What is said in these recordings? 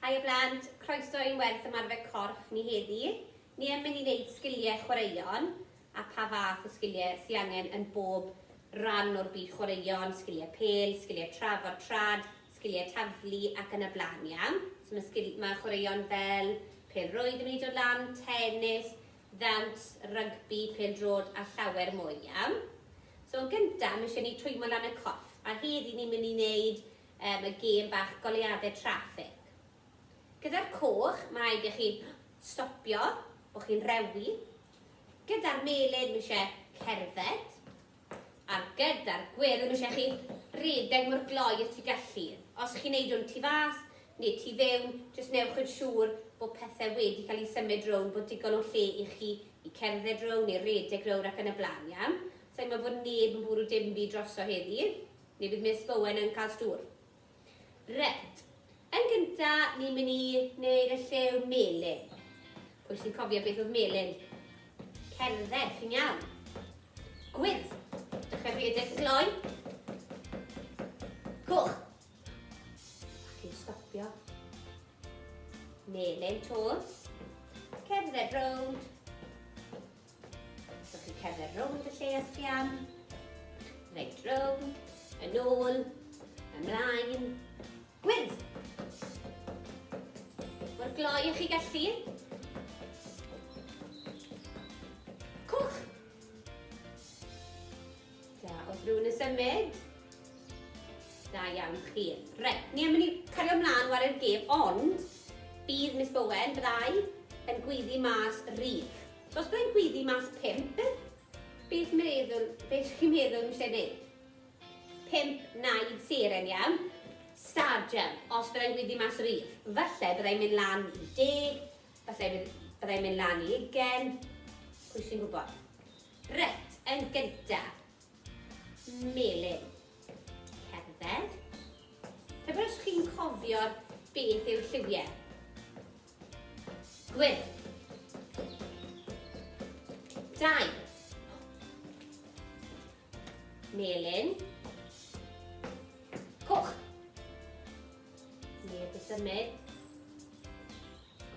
Hi a blant, croeso i'n werth ymarfer corff ni heddi. Ni yn mynd i wneud sgiliau chwaraeon a pa fath o sgiliau sy angen yn bob ran o'r byd chwaraeon, sgiliau pêl, sgiliau trafod trad, sgiliau taflu ac yn y blaen iawn. So mae, sgil, mae chwaraeon fel pêl rwyd yn mynd i dod lan, tennis, ddawns, rygbi, pêl drod a llawer mwy iawn. So yn gyntaf, mae eisiau ni twymo lan y corff a heddi ni'n mynd i wneud Yym y gêm bach goleuadau traffig. Gyda'r coch, mae rhaid i chi stopio, bod chi'n rewi. Gyda'r melyn, mae eisiau cerdded. A gyda'r gwyrdd, mae eisiau chi redeg mor gloi y tu gallu. Os chi'n neud o'n tu fas neu tu fewn, jyst newch yn siŵr bod pethau wedi cael ei symud rownd, bod digon o lle i chi i cerdded rownd neu redeg rownd ac yn y blaen, iawn? Saimo fod neb yn bwrw dim byd droso heddi. Ni fydd Miss Bowen yn cael stŵr. Reit. Yn gynta, ni'n mynd i wneud y llew melyn. Pwy sy'n cofio beth oedd melyn? Cerdded, chi'n iawn. Gwyrdd. Dechrau rhedeg gloi. Coch. Ac i'n stopio. Melyn tos. Cerdded rownd. So chi'n cerdded rownd y lle a sgian, reit rownd, yn ôl, ymlaen, gwyrdd! Mor gloi ych chi gallu. Cwch! Da, wrth rhywun yn symud. Da iawn chi. Reit, ni am ni cario ymlaen war i'r gêm, ond bydd Miss Bowen, byddai, yn gwyddi mas rif. Os byddai'n gwyddu mas pump, beth meddwl, beth chi'n meddwl yn lle neud? Pump naid seren iawn. Stadium, os byddai'n gwyddu mas yr un. Falle byddai'n mynd lan i deg, falle byddai'n mynd lan i ugen, pwy sy'n gwybod? Ret, yn gynta. Melin. Cerdded. Pe byddwch chi'n cofio beth yw'r lliwiau. Gwyn. Dau. Melin. Coch. Neb y symud.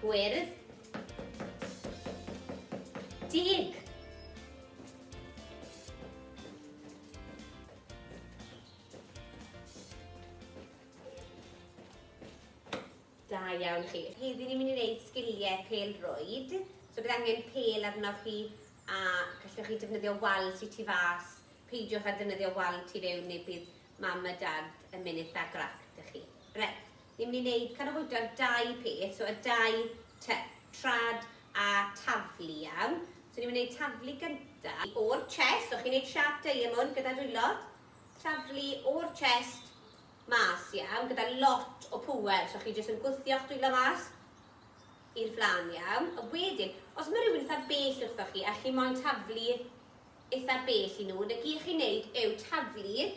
Gwyrdd. Deg. Da iawn chi. Heddi ni'n mynd i wneud sgilie pêl-rwyd. So bydd angen pêl arnoch chi a gallwch chi defnyddio wal sy tu fas. Peidiwch â defnyddio wal tu fewn neu bydd mam a dad yn mynd eitha grac da chi. Reit, ni'n mynd i wneud canolbwyntio'r dau peth, so y dau ty, trad a taflu iawn. So ni'n mynd i wneud taflu gynta o'r chest, so chi'n wneud siap diamond gyda dwylo. Taflu o'r chest Mas iawn gyda lot o pŵer so chi jyst yn gwthio'ch dwylo mas i'r flan iawn a wedyn os mae rhywun eitha bell wrthoch chi a chi moyn taflu eitha bell i nhw 'na gyd chi'n neud yw taflu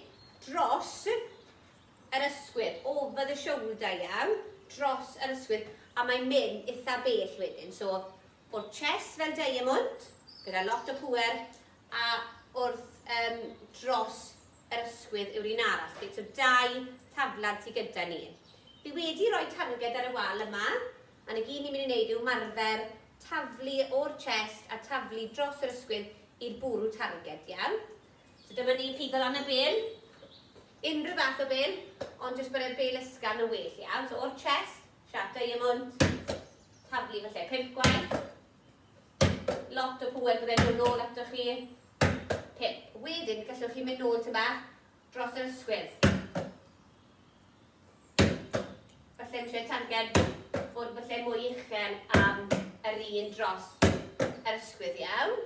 dros yr ysgwydd over the shoulder iawn dros yr ysgwydd a mae'n mynd eitha bell wedyn so o'r chest fel diamond gyda lot o pŵer a wrth yym dros Yr ysgwydd yw'r un arall, reit, so dau thaflen sy gyda ni. Fi wedi rhoi targed ar y wal yma, a'n y gyd ni'n mynd i wneud yw marfer taflu o'r chest a taflu dros yr ysgwydd i'r bwrw targed, iawn? So dyma ni, peidio lan y bel, unrhyw fath o bel, ond jyst bod e'n bel ysgafn yn well, iawn? So o'r chest, siap diamond, taflu falle pump gwaith, Lot o pŵer byddai'n dod nôl ato chi. Pip. Wedyn, gallwch chi mynd nôl tyma dros yr ysgwydd. Falle yn lle tangen fod falle mwy uchel am yr un dros yr ysgwydd iawn.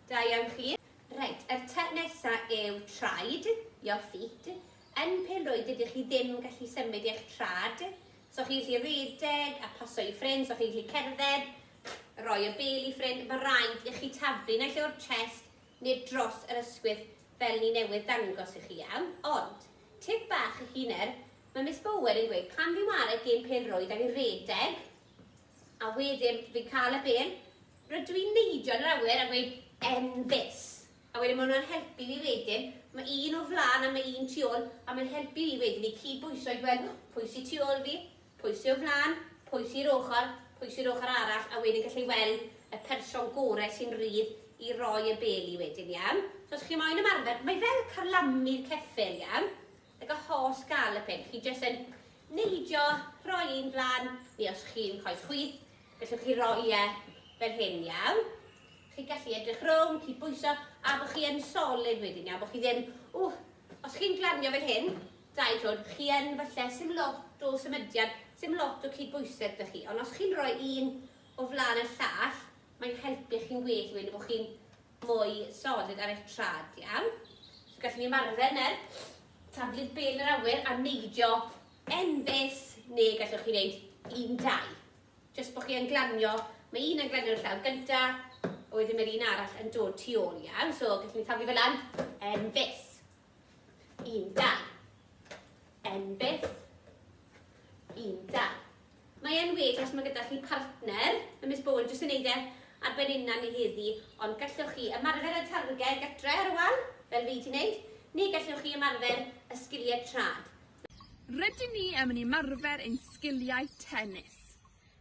Da iawn chi. Reit, yr te nesa yw traed, your feet. Yn pelrwyd ydych chi ddim yn gallu symud eich trad, So chi'n gallu rhedeg a pasio i ffrind, so chi'n gallu cerdded, rhoi y bel i ffrind, mae rhaid i chi taflu naill ai o'r chest neu dros yr ysgwydd fel ni newydd dangos i chi iawn. Ond, tip bach i chi nawr, mae Miss Bowen yn gweud pan fi'n ware gêm pêl-rwyd a fi'n rhedeg a wedyn fi'n cael y bel, rydw i'n neidio yn yr awyr a gweud 'Enfys'. A wedyn ma' hwnna'n helpu fi wedyn, ma' un o flan a ma' un tu ôl, a mae'n helpu fi wedyn i cyd-bwyso i gweld pwy sy tu ôl fi, pwy sy o flan, pwy sy i'r ochr, pwy sy'r ochr arall, a wedyn gallu weld y person gore sy'n rhydd i roi y bel i wedyn, iawn? So os chi moyn ymarfer, mae fel carlamu'r ceffyl, iawn? Ag y holl gal y peth. Chi jyst yn neidio, rhoi un flan, neu os chi'n coes chwith, gallwch chi roi e fel hyn, iawn? Chi'n gallu edrych rownd, chi bwyso, a bod chi yn solid wedyn, iawn? Bod chi ddim, ww, os chi'n glanio fel hyn, dau llwyd, chi yn falle, sy'n lot o symudiad, sy'n lot o cydbwysedd da chi. Ond os chi'n rhoi un o flan y llall, mae'n helpu chi'n gwell wedyn bod chi'n mwy solid ar eich traed, iawn? So gallwn ni ymarfer nawr, taflu bel yr awyr a neidio enfys, neu gallwch chi wneud un dau. Jyst bod chi yn glanio, mae un yn glanio'r llaw gynta, a wedyn mae'r un arall yn dod tu ôl, iawn? So gallwn ni taflu fel lan, enfys. Yn da. Yn beth? Yn da. Mae e'n well os mae gyda chi partner, mae Miss Bowen jyst yn neud e ar ben unnan ni heddi, ond gallwch chi ymarfer y targed gatre ar y wal, fel fi ti'n neud, neu gallwch chi ymarfer y sgiliau trad. Rydyn ni am yn ymarfer ein sgiliau tennis.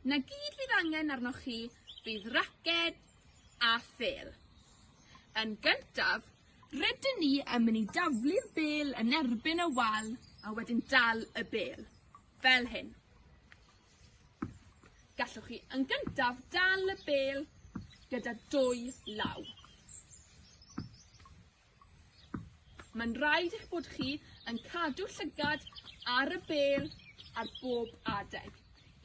Na gyd fydd angen arnoch chi fydd raced a phêl. Yn gyntaf, Rydyn ni yn mynd i daflu'r bêl yn erbyn y wal a wedyn dal y bêl, fel hyn. Gallwch chi yn gyntaf dal y bêl gyda dwy law. Mae'n rhaid eich bod chi yn cadw llygad ar y bel ar bob adeg.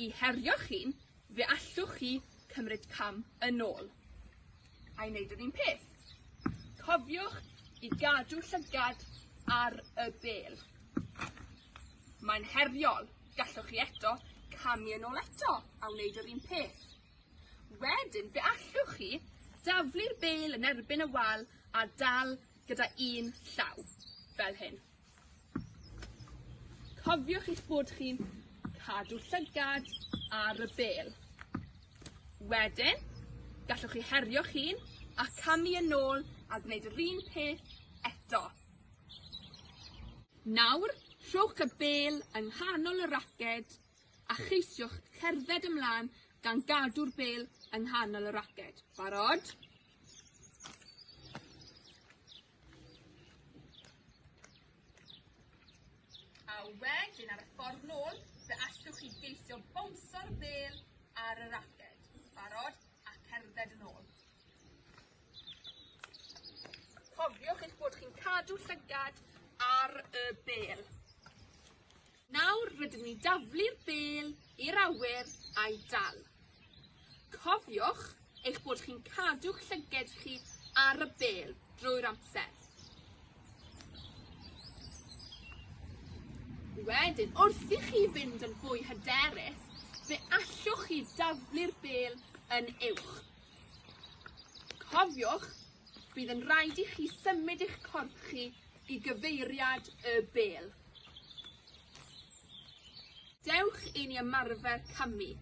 I herio chi'n, fe allwch chi cymryd cam yn ôl. a'i wneud yr un peth. Cofiwch i gadw llygad ar y bel. Mae'n heriol, gallwch chi eto camu yn ôl eto a wneud yr un peth. Wedyn, fe allwch chi daflu'r bel yn erbyn y wal a dal gyda un llaw, fel hyn. Cofiwch eich bod chi'n cadw llygad ar y bel. Wedyn, gallwch chi herio'ch hun a camu yn ôl a gwneud yr un peth eto. Nawr, rhowch y bel yng nghanol y raced a cheisiwch cerdded ymlaen gan gadw'r bel yng nghanol y raced. Barod? A wedyn ar y ffordd nôl, fe allwch chi geisio bownso'r ddel ar y raced. Barod a cerdded yn ôl. Cofiwch eich bod chi'n cadw llygad ar y bel. Nawr rydyn ni'n daflu'r bêl i'r awyr a'i dal. Cofiwch eich bod chi'n cadw'ch llyged chi ar y bêl drwy'r amser. Wedyn, wrth i chi fynd yn fwy hyderus, fe allwch chi daflu'r bêl yn uwch. Cofiwch, bydd yn rhaid i chi symud eich corff chi i gyfeiriad y bêl. Dewch i ni ymarfer camu.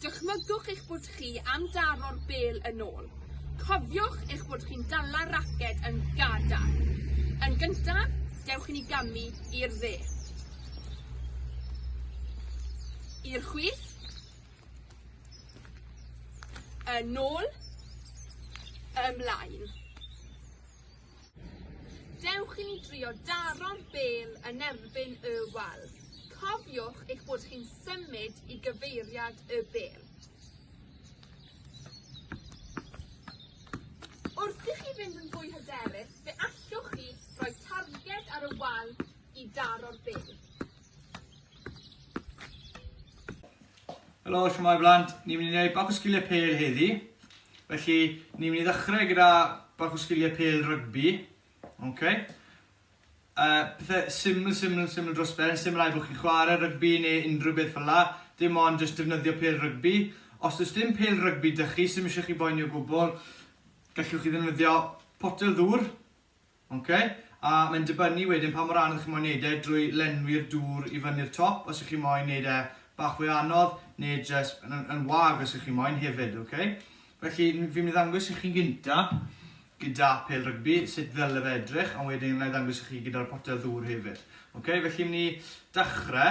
Dychmygwch eich bod chi am daro'r bêl yn ôl. Cofiwch eich bod chi'n dala'r raced yn gadarn. Yn gyntaf, dewch i ni gamu i'r dde. I'r chwith. Yn ôl. Ymlaen. Dewch i ni drio daro'r bêl yn erbyn y wal. Cofiwch eich bod chi'n symud i gyfeiriad y bêl. Wrth i chi fynd yn fwy hyderus, fe allwch chi roi targed ar y wal i daro'r bêl. Helo, shwmae blant. Ni'n mynd i wneud bach o sgiliau pêl heddi. Felly, ni'n mynd i ddechrau gyda bach o sgiliau pêl rygbi. Okay. Uh, pethau syml, syml, syml dros ben, syml ai bod chi'n chwarae rygbi neu unrhyw beth fel la. Dim ond jyst defnyddio pêl rygbi. Os ydych dim pêl rygbi dych chi, sy'n eisiau chi boeni o gwbl, gallwch chi ddefnyddio potel ddŵr, Ok, a mae'n dibynnu wedyn pa mor anodd chi'n moyn neud e drwy lenwi'r dŵr i fyny'r top os y'ch chi'n moyn neud e bach fwy anodd ne jyst yn yn wag os y'ch chi'n moyn hefyd ok. Felly fi'n mynd i ddangos i chi gynta gyda pêl rygbi sut ddyle fe edrych ond wedyn wna i ddangos i chi gyda'r potel ddŵr hefyd. Ok, felly myn i dachre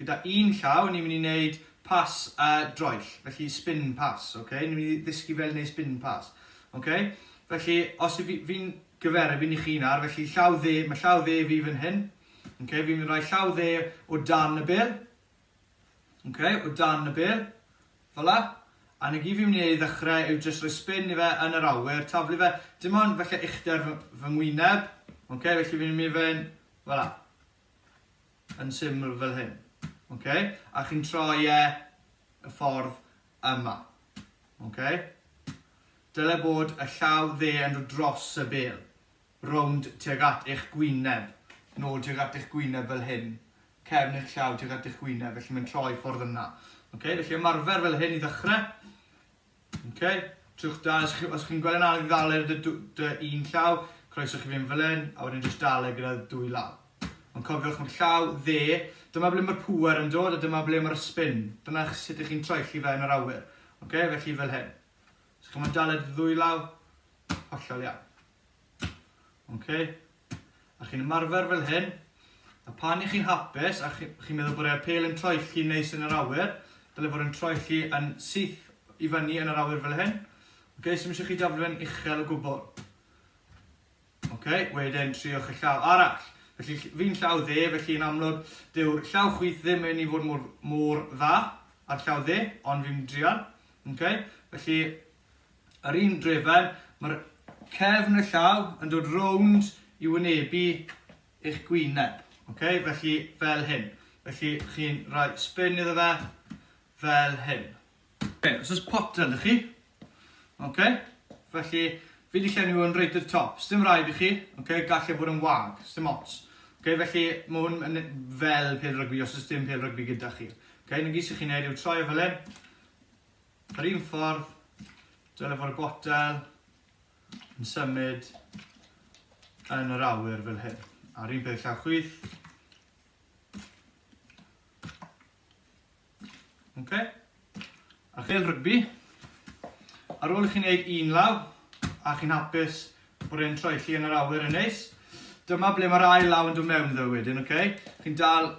Gyda un llaw ni'n mynd i wneud pas y droell, felly spin pass, ok? Ni'n mynd i ddysgu fel wneud spin pass, ok? Felly, os fi, fi'n gyferu, fi'n i chi nawr, felly llaw dde, mae llaw dde fi fan hyn, ok? Fi'n mynd i roi llaw dde o dan y bel, ok? O dan y bel, fel la. A na gyd fi'n mynd i ddechrau yw jyst rhoi spin i fe yn yr awyr, taflu fe, dim ond felly uchder fy, fy ngwyneb, ok? Felly fi'n mynd i fe fel la. yn syml fel hyn. Okay? A chi'n troi e y ffordd yma. Okay? Dyle bod y llaw dde yn dod dros y bel, rownd tuag at eich gwyneb, nôl tuag at eich gwyneb fel hyn, cefn eich llaw tuag at eich gwyneb, felly mae'n troi ffordd yna. Okay? Felly ymarfer fel hyn i ddechrau. Ok, trwch da, os chi'n chi gweld yn anodd i ddal e dy, dy un llaw, croeso chi fynd fel hyn, a wedyn jyst dal e gyda dwy law. Ond cofiwch mae'r llaw dde, dyma ble mae'r pŵer yn dod a dyma ble mae'r spin. Dyna sut ych chi'n troelli fe yn yr awyr. Ok, felly fel hyn. Os chi'n mynd dal e dy ddwy law, hollol iawn. Ok. A chi'n ymarfer fel hyn. A pan i chi'n hapus, a chi'n chi meddwl bod e'r pel yn troi chi neis yn yr awyr, dyle fod yn troi chi yn syth i fyny yn yr awyr fel hyn. Ok, sy'n eisiau chi daflu fe'n uchel o gwbl. Ok, wedyn triwch y llaw arall. Felly fi'n llaw dde, felly yn amlwg, dyw'r llaw chwith ddim yn ei fod mor, mor dda ar llaw dde, ond fi'n drial. Ok, felly Ar un drefen, mae'r cefn y llaw yn dod rownd i wynebu eich gwyneb. Ok, felly fel hyn. Felly chi'n rhoi spin iddo fe, fel hyn. Ok, os oes potel da chi, ok, felly fi wedi llenwi hwn reit i'r top. Sdim rhaid i chi, ok, gallai e fod yn wag, sdim ots. Ok, felly mae hwn yn fel pel rygbi os oes dim pel rygbi gyda chi. Ok, na gyd sy'n chi'n neud yw troi o fel hyn, Yr un ffordd, dyle fod y botel yn symud yn yr awyr fel hyn. A'r un peth llaw chwith. Okay. A chel rygbi, ar ôl i chi'n gwneud un law, a chi'n hapus bod e'n troi chi yn yr awyr yn neis, dyma ble mae'r ail law yn dod mewn ddo wedyn, okay? Chi'n dal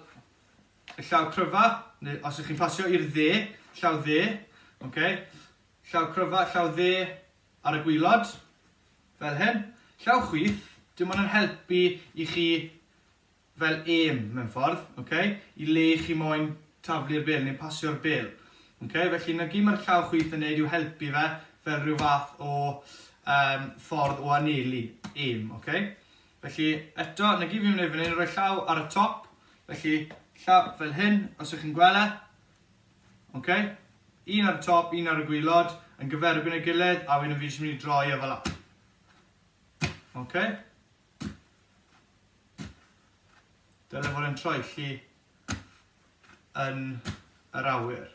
y llaw cryfa, neu os ych chi'n pasio i'r dde, llaw dde, okay? llaw cryfa, llaw dde ar y gwylod, fel hyn. Llaw chwith, dim ond yn helpu i chi fel aim mewn ffordd, okay? i le chi moyn taflu'r bel neu pasio'r bel. Okay? Felly na gyd mae'r llaw chwith yn neud yw helpu fe fel rhyw fath o um, ffordd o anelu aim. Okay? Felly, eto, na gyd fi'n mynd i wneud fan hyn, rhoi llaw ar y top, felly llaw fel hyn, os ych chi'n gweld e. Ok, un ar y top, un ar y gwylod, yn gyferbyn y gilydd, a wedyn fi jyst mynd i droi e fel hyn. Ok. Dyle fod yn troelli yn yr awyr.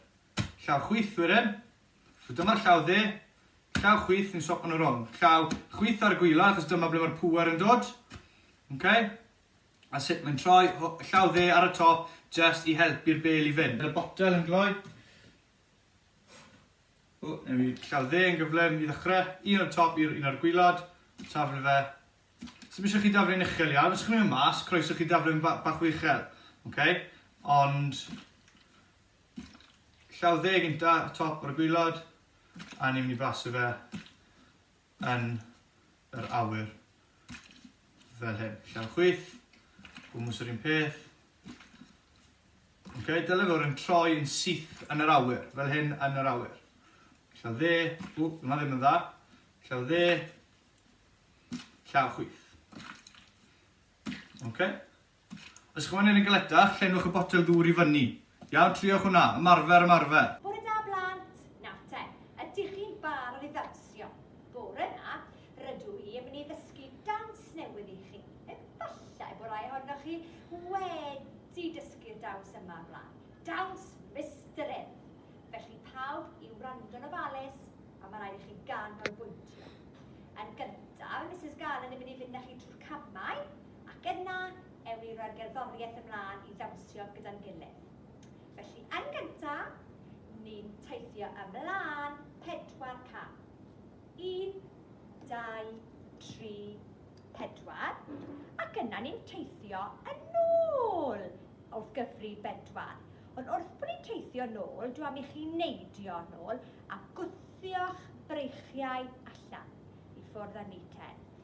Llaw chwith wedyn, So dyma'r llaw dde, llaw chwith yn swap yn y rong. Llaw chwith ar y gwylod, achos dyma ble mae'r pŵer yn dod. Okay? A sut mae'n troi, llaw dde ar y top, just i helpu'r bel i fynd. Bydd y botel yn gloi. O, newn ni llaw dde yn gyflym i ddechrau. Un o'r top i'r un o'r gwylod. Taflu fe. Os ydych chi daflu'n uchel iawn, os ydych chi'n mynd mas, croeso chi daflu'n bach o uchel. Okay? Ond Llaw dde gynta, y top o'r gwylod, a ni'n mynd i blasu fe yn yr awyr fel hyn. Llaw chwith, gwmws yr un peth. Okay, dyle fod yn troi yn syth yn yr awyr, fel hyn yn yr awyr. Llaw dde, ww, yma ddim yn dda. Llaw dde, llaw chwith. Okay. Ysgrifennir yn galetach, llenwch y botel ddŵr i fyny. Iawn, triwch hwnna. Ymarfer, ymarfer. Bore da, blant. Nawr te, ydych chi'n barod i ddawnsio? Bore 'ma, rydw i yn mynd i ddysgu dawns newydd i chi. Efallai bo rai ohonoch chi wedi dysgu'r dawns yma o'r blaen. Dawns Mister Ef. Felly pawb i wrando'n ofalus, a mae rhaid i chi ganolbwyntio. Yn gyntaf, Misus Garland yn mynd i fynd â chi trwy'r camau. ac yna ewn ni roi'r gerddoriaeth ymlaen i ddawnsio gyda'n gilydd. Felly, yn gynta, ni'n teithio ymlaen pedwar cam. Un, dau, tri, pedwar, ac yna ni'n teithio yn ôl wrth gyfri bedwar. Ond wrth bod ni'n teithio nôl, dw am i chi neidio nôl a gwthio'ch breichiau allan i ffwrdd â ni ten.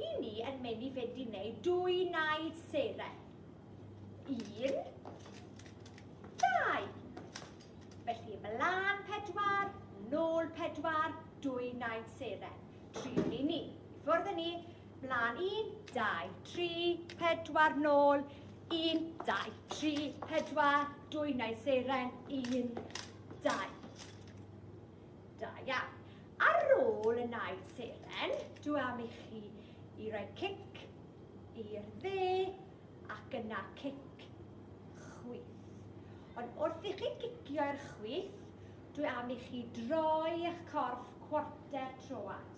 I ni yn menu fedi neu dwy naid sere. Un, dau. Felly ymlaen pedwar, nôl pedwar, dwy naid sere. Triwn i ni. I ffwrdd ni. Mlaen un, dau, tri, pedwar, nôl. Un, dau, tri, pedwar, dwy naid seren. Un, dau. Da iawn. Ar ôl y naid seren, dw am i chi i roi cic i'r dde ac yna cic chwith. Ond wrth i chi gicio i'r chwith, dw am i chi droi eich corff cwarter troad.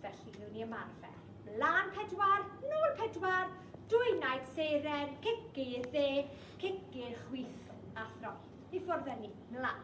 Felly, newn ni ymarfer. Mlaen pedwar, nôl pedwar, dwy naid seren, cic i'r dde, cic i'r chwith a throi. I ffwrdd â ni. Mlaen.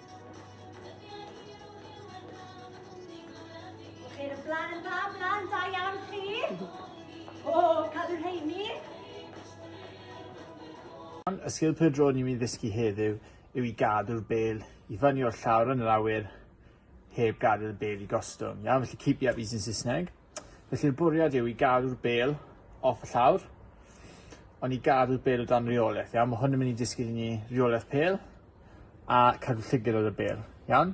Ceir y blaen yn dda, blaen da iawn chi. O, cadw rheini. Y sgil pêl-droed ni'n mynd i ddysgu heddiw yw i gadw'r bêl i fyny o'r llawr yn yr awyr heb gadael y bêl i gostwng. Iawn, felly keep the up yn Saesneg. Felly'r bwriad yw i gadw'r bêl off y llawr, ond i gadw'r bêl o dan reolaeth, iawn? Mae hwn yn mynd i disgyn i ni reolaeth pêl a cadw llygad ar y bêl, iawn?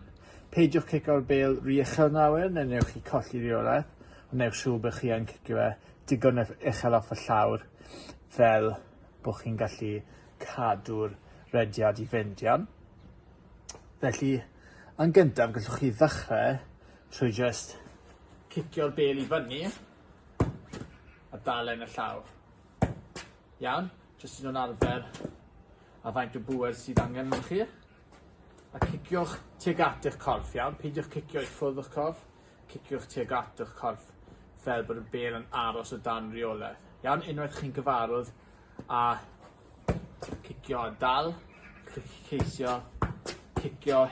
Peidiwch cico'r bêl rhy uchel na awyr, neu newch chi colli reolaeth, ond newch siŵr bod chi yn cicio fe digon e- uchel off y llawr fel bod chi'n gallu cadw'r rediad i fynd, iawn? Felly, yn gyntaf, gallwch chi ddechrau Trwy jyst cicio'r bêl i fyny a dal e yn y llaw. Iawn, jyst yn nhw'n arfer a faint o bwer sydd angen yn chi. A ciciwch tuag at eich corff, iawn? Peidiwch cicio i ffwrdd o'ch corff, ciciwch tuag at eich corff fel bod y bêl yn aros o dan reolaeth. Iawn, unwaith chi'n gyfarwydd a cicio a dal, ceisio cicio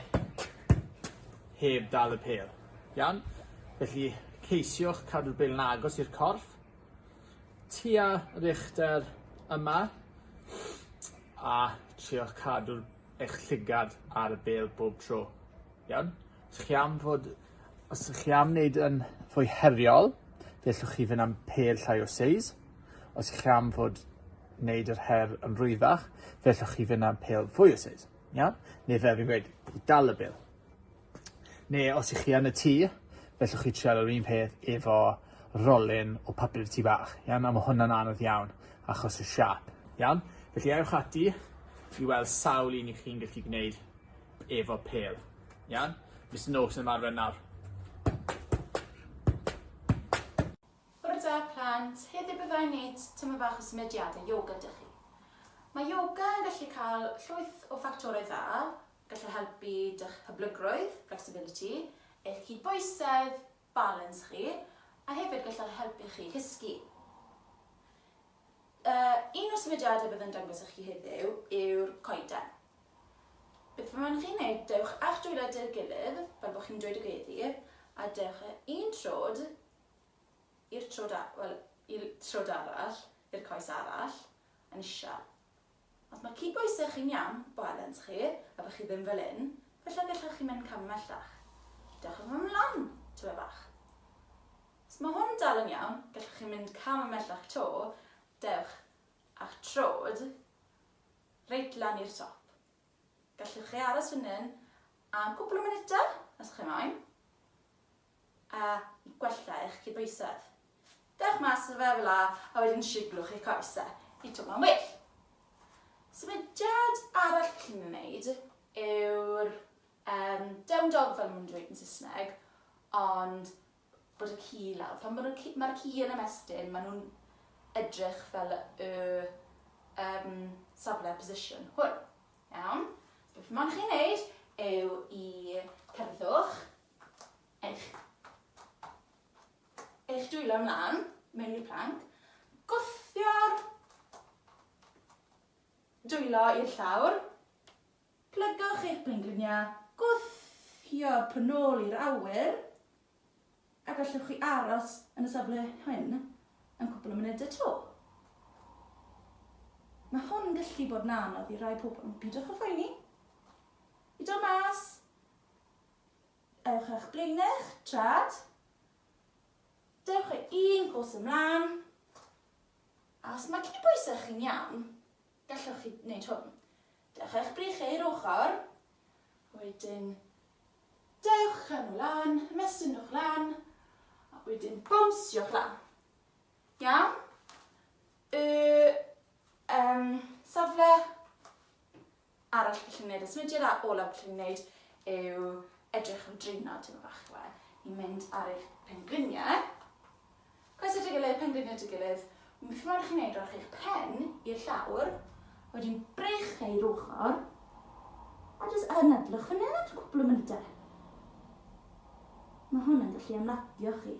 heb dal y pel. Iawn? Felly ceisiwch cadw'r bel yn agos i'r corff, tua yr uchder yma, a triwch cadw'r eich llygad ar y bel bob tro. Iawn? Os chi am fod Os ydych chi am wneud yn fwy heriol, fe allwch chi fynd am pêl llai o seis. Os ydych chi am fod wneud yr her yn rwyddach, fe allwch chi fynd am pêl fwy o seis. Iawn? Neu fel fi'n gweud, i dal y bil. Neu os ydych chi yn y tŷ, fe allwch chi trial yr un peth efo rolyn o papur tŷ bach. Iawn? A mae hwnna'n anodd iawn achos y siap. Iawn? Felly ewch ati i weld sawl un i chi'n gallu gwneud efo pêl. Iawn? Mister Noakes yn ymarfer nawr. Bore da, plant. Heddiw byddai'n wneud tyma fach o symudiadau yoga dych chi. Mae yoga yn gallu cael llwyth o ffactorau dda, gallu helpu dych pyblygrwydd, flexibility, eich cydbwysedd, balans chi, a hefyd gallai helpu chi cysgu. Uh, un o'r symudiadau bydd yn dangos i chi heddiw yw'r coeden. Beth fe mae'n chi'n gwneud, dewch a'ch dwylo dy'r gilydd, fel bod chi'n dweud y gweddi, a dewch un trod i'r trod, well, i'r trod arall, i'r coes arall, yn isel. Os mae cydbwysedd chi'n iawn, balans chi, a bod chi ddim fel hyn, falle gallwch chi mynd cam ymhellach. Dewch â hwn ymlaen, tywe bach. Os mae hwn dal yn iawn, gallwch chi mynd cam ymhellach 'to, dewch a'ch trod reit lan i'r top. Gallwch chi aros fan hyn am cwpl o munudau, os chi moyn. a gwella eich cydbwysedd. Dewch mas o fe fel a a wedyn siglwch eich coesau i twmlo'n well. Symudiad arall gallwn ni wneud yw'r um, down dog fel maen nhw'n dweud yn Saesneg, ond bod y ci lawr. Pan mae'r ci, ma ci yn ymestyn, maen nhw'n edrych fel y um, safle position hwn. Iawn? Beth mae'n chi'n neud yw i cerddwch eich eich dwylo ymlaen mewn i'r planc, gwthio'r dwylo i'r llawr, plygwch eich plenglyniau, gwthio'r pwn ôl i'r awyr, a gallwch chi aros yn y safle hyn am cwpl o munudau to. Mae hwn yn gallu bod yn anodd i rai pobl, ond pidwch â phoeni. I dod mas, Ewch â'ch blaenau'ch traed. Dewch â un bws ymlaen. A os mae gen i bwysau chi'n iawn, gallwch chi wneud hwn. Dewch â'ch breichiau i'r ochr. Wedyn, dewch â nhw lan, ymestyn nhw'ch lan. A wedyn bownsio'ch lan. Iawn? Y um, safle arall gallu gwneud y symudiad a olaf gallu gwneud yw edrych am drinod tyma bach chwe. Ni'n mynd ar eich pengliniau. Coes at y gilydd, pengliniau at y gilydd. Beth mae'n rhaid chi wneud rhowch eich pen i'r llawr, wedyn breich fe i'r ochr, a jyst anadlwch fan hyn at y cwpl o mynydau. Mae hwn yn gallu ymladio chi.